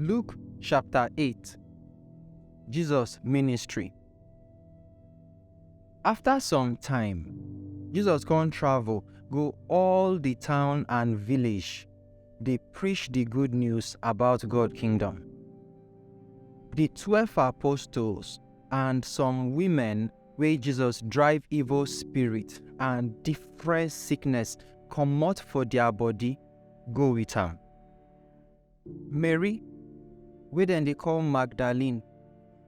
Luke chapter 8 Jesus ministry. After some time, Jesus come travel go all the town and village dey preach the good news about God kingdom. Di twelve apostles and some women wey Jesus drive evil spirit and different sickness comot for dia body go with am. Mary wey dem dey call Magdalene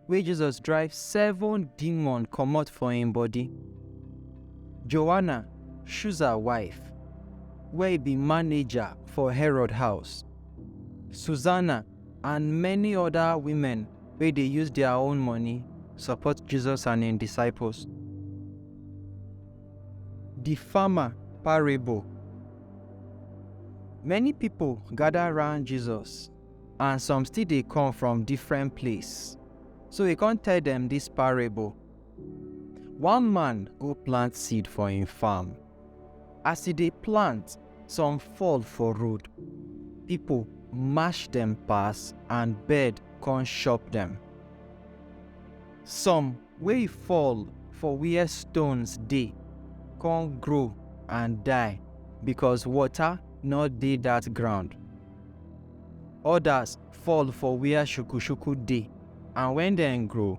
wey Jesus drive seven demon comot for im body. Joanna, Shuza wife, wey be manager for Herod house. Susanna, and many other women wey dey use their own money support Jesus and im disciples. The farmer parable. Many people gather round Jesus and some still dey come from different place. So he come tell them this parable. One man go plant seed for im farm As e dey plant, some fall for road, pipo mash dem pass and bird con chop dem. Some wey fall for where stones dey con grow and die becos water nor dey dat ground. Odas fall for where shuku-shuku dey and wen dem grow,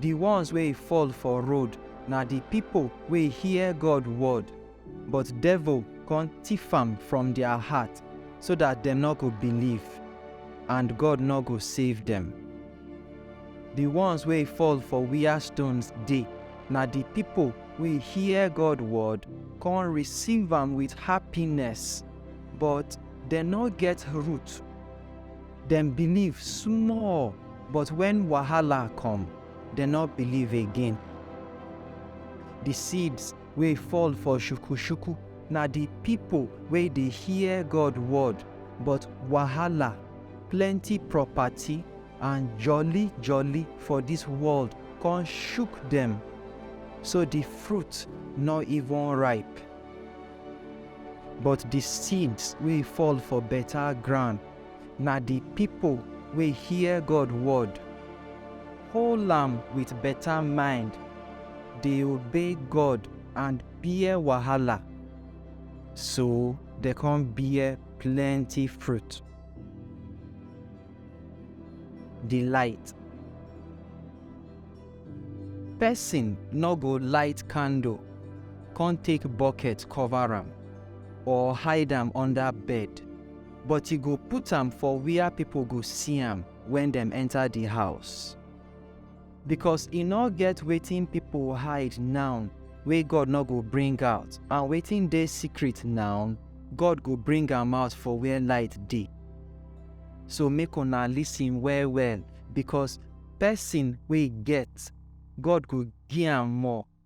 Di ones wey fall for road na di pipo wey hear God word, but devil con tiff am from dia heart, so dat dem nor go believe, and God nor go save dem. Di ones wey fall for wia stones dey na di pipo wey hear God word con receive am wit happiness, but dem nor get root. Dem believe small, but when wahala come, dem no believe again. The seeds wey fall for shuku-shuku na the people wey dey hear God word, but wahala, plenty property, and jolly-jolly for this world come shook dem, so the fruit no even ripe. But the seeds wey fall for better ground Na di pipo wey hear God word, hold am wit beta mind, dey obey God and bear wahala, so dem kon bear plenty fruit. Di light. Pesin nor go light kandle kon take boket kover am or hide am under bed. but e go put am for wia pipo go see am wen dem enta di house. Bicos e nor get wetin pipo hide naun wey God nor go bring out, and wetin dey secret naun, God go bring am out for where light dey. So make una listen well-well, bicos pesin wey get, God go gi am more,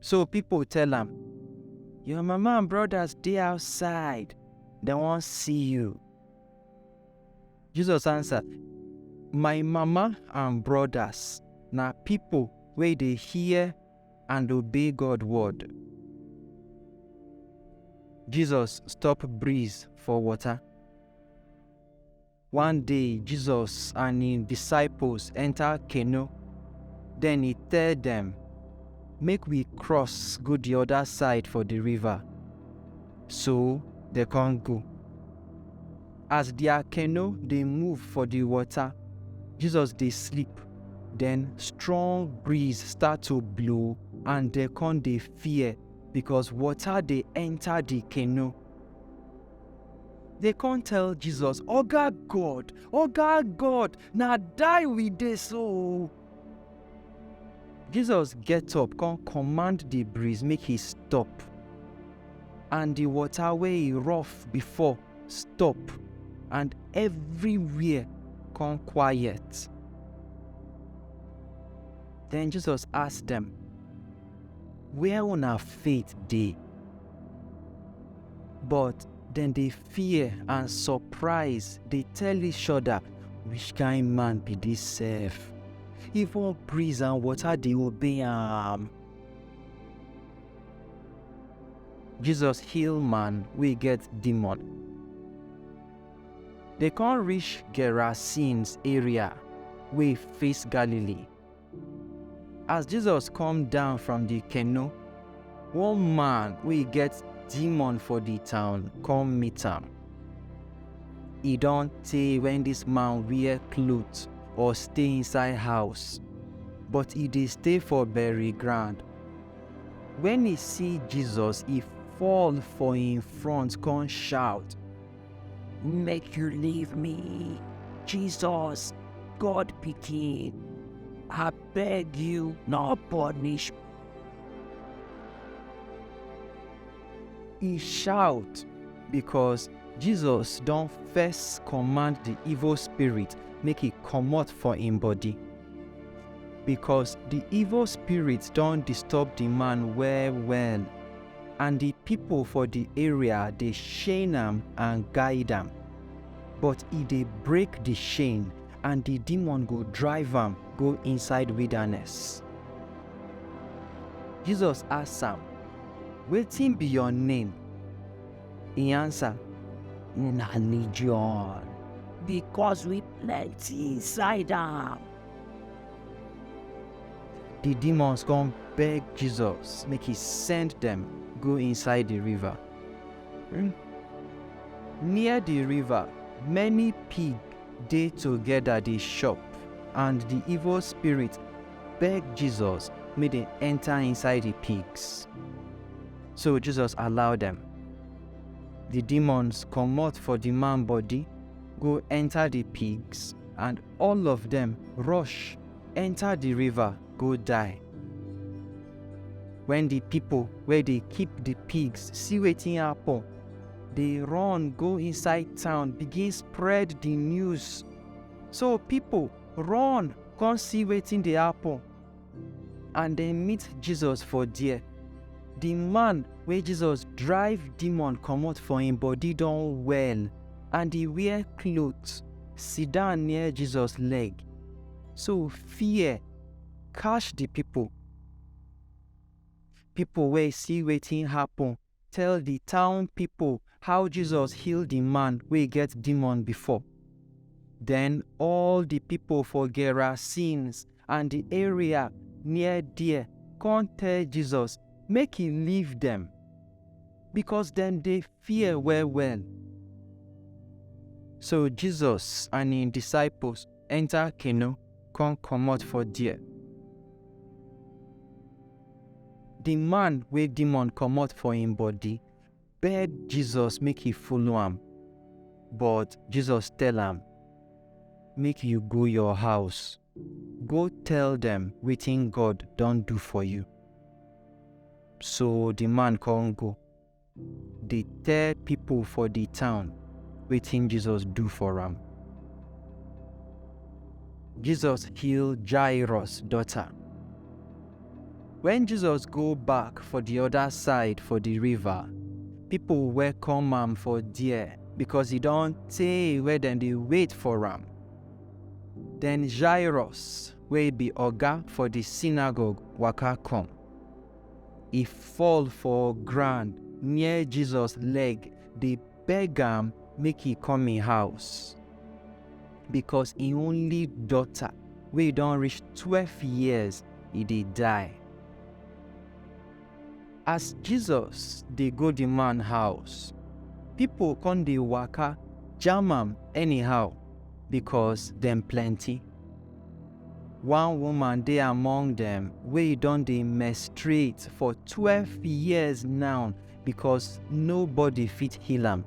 So people tell am, Your mama and brothers dey outside, dem wan see you. Jesus answer, My mama and brothers na people wey dey hear and obey God word. Jesus stop breeze for water. One day, Jesus and him disciples enter canoe. Then he tell them, Make we cross go the other side for the river. So they can't go. As their canoe they move for the water, Jesus they sleep. Then strong breeze start to blow and they can't they fear because water they enter the canoe. They come tell Jesus, Oga God, Oga God, na die we dey so. Jesus get up, come command the breeze make he stop. And the water wey e rough before stop, and everywhere come quiet. Then Jesus ask them, where una faith dey? But dem dey fear and surprise dey tell each other, which kind man be this sef? Even breeze and water dey obey am. Jesus heal man wey get demon. Dey come reach Gerasenes area wey face Galilee. As Jesus come down from the canoe, one man wey get demon for the town come meet am. E don tey when this man wear cloth or stay inside house, but e dey stay for bury ground. When e see Jesus, e fall for im front come shout, Make you leave me. Jesus, God pikin. I beg you, no punish. He shout because Jesus don first command the evil spirit make e comot for im body. Because the evil spirit don disturb the man well well and di pipo for di area dey chain am and guide am, but e dey break di chain and di demon go drive am go inside wilderness. Jesus ask am, Wetin be your name? E answer, Na Legion, because we plenty inside am. Di demons come beg Jesus make he send dem go inside di river. Near di river, many pig dey togeda dey chop and di evil spirit beg Jesus make dem enta inside di pigs. So Jesus allow dem. Di demons comot for di man body go enta di pigs and All of dem rush enta di river go die. Wen di pipo wey dey keep di pigs see wetin happun, dey run go inside town begin spread di news. So pipo run come see wetin dey happun. And dem meet Jesus for there. The man wey Jesus drive demon comot for im body don well and e wear cloth, sit down near Jesus leg. So fear catch the people. People wey see wetin happen tell di town pipo how Jesus heal di man wey get demon before. Den all di pipo for Gerasenes and di area near there come tell Jesus make e leave dem, because dem dey fear well-well. So Jesus and im disciples enter canoe come comot for there. Di man wey demon komot for im bodi beg Jesus make e follow am, but Jesus tell am, Make yu go yor house, go tell dem wetin God don do for yu. So di man kon go. dey tell pipo for di town wetin Jesus do for am. Jesus heal Jairus daughter. Wen Jesus go back for di oda side for di river, pipo welcome am for there because e don tey wey dem dey wait for am. Den Jairus wey be oga for di synagogue waka come. e fall for ground near Jesus leg dey beg am make e come im house because im only daughter wey don reach twelve years e dey die. As Jesus dey go the man house, people come dey waka jam am anyhow because dem plenty. One woman dey among dem wey don dey menstruate for twelve years now because nobody fit heal am.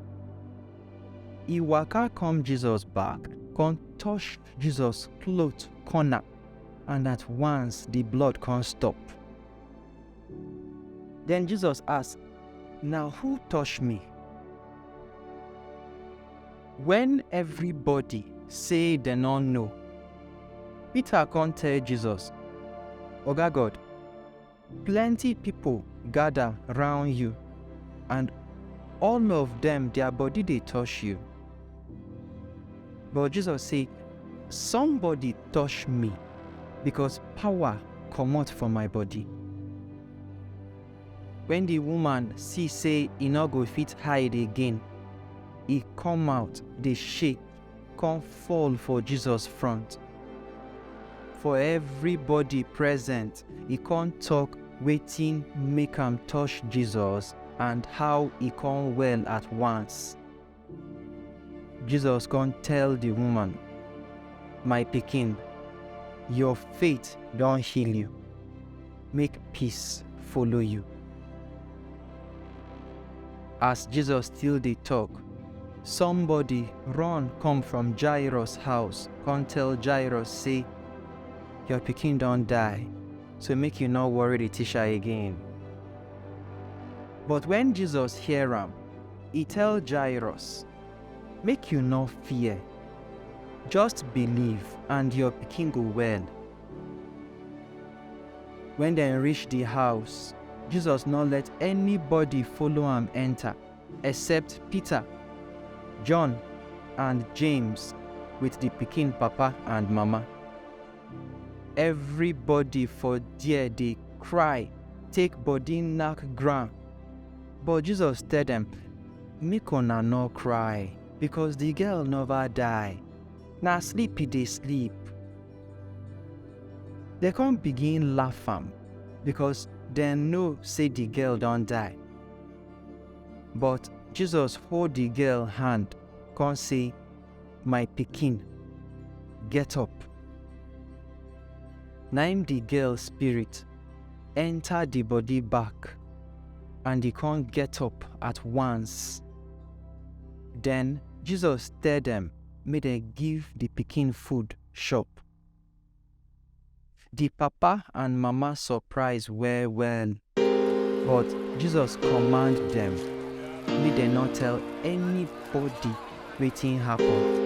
E waka come Jesus back, come touch Jesus cloth corner and at once the blood come stop. Then Jesus ask, Na who touch me? Wen evribodi sey dem nor know, Pita kon tell Jesus, Oga God, plenti pipol gada roun yu and all of dem dia body dey tosh yu. But Jesus sey, Somebody tosh mi, bikos pawa komot for my body. Wen di woman si sey e nor go fit hide again, e kom out dey shake kon fall for Jesus front. For evribody present, e kon tok wetin make am tosh Jesus and how e kon well at once. Jesus come tell the woman, My pikin, your faith don heal you. Make peace follow you. As Jesus still dey talk, somebody run come from Jairus house come tell Jairus say, Your pikin don die, so make you no worry the teacher again. But when Jesus hear am, E tell Jairus, Make you no fear, just believe and your pikin go well. When dem reach the house, Jesus no let anybody follow am enter except Peter, John and James with the pikin papa and mama. Everybody for there dey cry take body knack ground. But Jesus tell dem, Make una no cry, because the girl never die. Na sleep e dey sleep. They come begin laugh am because dem know say the girl don die. But Jesus hold the girl hand, come say, My pikin, get up. Na im the girl spirit enter the body back and he con get up at once. Then Jesus tell dem make dem give the pikin food chop. Di papa and mama surprise well-well, but Jesus command dem make dem no tell anybody wetin happen.